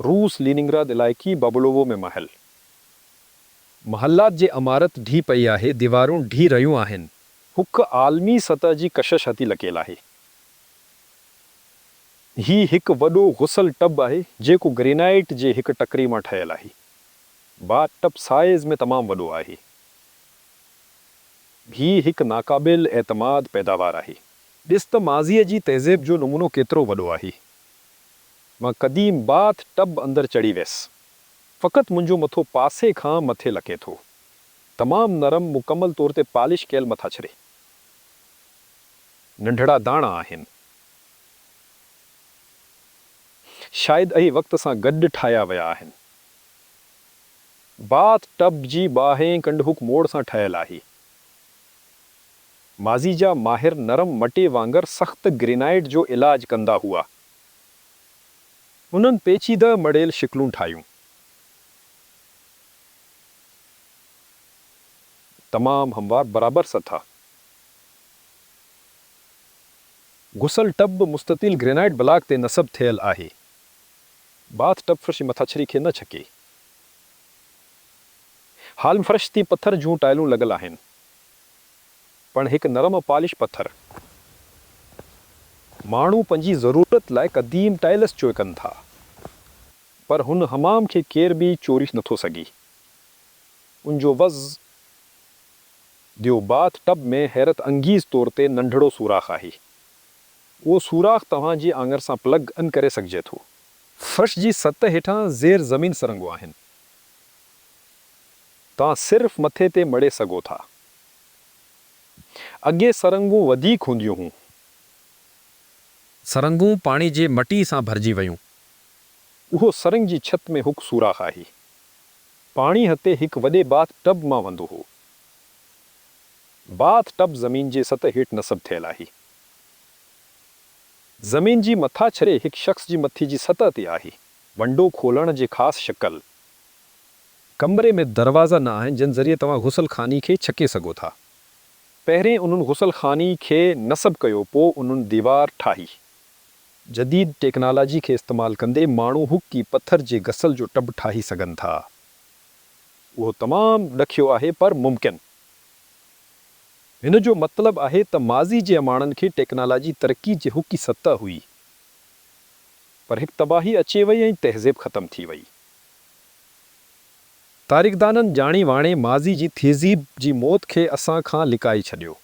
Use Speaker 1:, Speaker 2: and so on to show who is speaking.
Speaker 1: روس ليننگراد علائقي بابولوو ۾ محل. محلات جي عمارت ڊھي پئي آھي، ديوارون ڊھي رھيون آھن. ھڪ عالمي سطح جي ڪشش ھتي لڪيل آھي. ھي ھڪ وڏو غسل ٽب آھي، جيڪو گرينائيٽ جي ھڪ ٽڪري مان ٺھيل آھي. باٿ ٽب سائيز ۾ تمام وڏو آھي. ھي ھڪ ناقابل اعتماد پيداوار آھي. ڏس ته ماضيء جي تهذيب جو نمونو ڪيترو وڏو آھي. مان قديم باٿ ٽب اندر چڙهي ويس. فقط منهنجو مٿو پاسي کان مٿي لڪي ٿو. تمام نرم مڪمل طور تي پالش ڪيل مٿاڇري. ننڍڙا داڻا آهن. شايد اهي وقت سان گڏ ٺاهيا ويا آهن. باٿ ٽب جي ٻاهرين ڪنڊ هوڪ موڙ سان ٺهيل آهي. ماضي جا ماهر نرم مٽي وانگر سخت گرينائيٽ جو علاج ڪندا هئا. انهن پيچيده مڙيل شڪلون ٺاهيون. تمام هموار برابر سٿا. غسل ٽب به مستطيل گرينائيٽ بلاڪ تي نصب ٿيل آهي. باٿ ٽب فرش مٿاڇري کي نه ڇڪي. هال ۾ فرش تي پٿر جون ٽائلون لڳل آهن. پڻ هڪ نرم ۽ پالش پٿر. ماڻهو پنهنجي ضرورت لاء قديم ٽائلس چوء ڪن ٿا، پر هن حمام کي ڪير به چوري نٿو سگهي. ان جو وز ديو باٿ ٽب ۾ حيرت انگيز طور تي ننڍڙو سوراخ آهي. اهو سوراخ توهان جي آڱر سان پلگ ان ڪري سگهجي ٿو. فرش جي سطح هيٺان زير زمين سرنگهون آهن. توهان صرف مٿي تي مڙي سگهو ٿا. اڳي سرنگهون وڌيڪ هونديون هون.
Speaker 2: سرنگهون پاڻي جي مٽي سان ڀرجي ويون. اهو
Speaker 1: سرنگهه جي ڇت ۾ هڪ سوراخ آهي. پاڻي هتي هڪ وڏي باٿ ٽب مان وندو هو. باٿ ٽب زمين جي سطح هيٺ نصب ٿيل آهي. زمين جي مٿاڇري هڪ شخص جي مٿي جي سطح تي آهي. ونڊو کولڻ جي خاص شڪل
Speaker 2: ڪمري ۾ دروازا نه آهن جن ذريعي توهان غسل خاني کي ڇڪي سگهو ٿا. پهرين
Speaker 1: انهن غسل خاني کي نصب ڪيو پو انهن ديوار ٺاهي. جديد ٽيڪنالاجي کي استعمال ڪندي ماڻهو هڪ ئي پٿر جي غسل جو ٽب ٺاهي سگهن ٿا. اهو تمام ڏکيو آهي پر ممڪن. هن جو مطلب آهي ته ماضي جي اماڻن کي ٽيڪنالاجي ترقي جي هڪ ئي سطح هئي پر هڪ تباهي اچي وئي ۽ تهذيب ختم ٿي وئي.
Speaker 2: تاريخدانن ڄاڻي واڻي ماضي جي تھذيب جي موت کي اسان کان لڪائي ڇڏيو.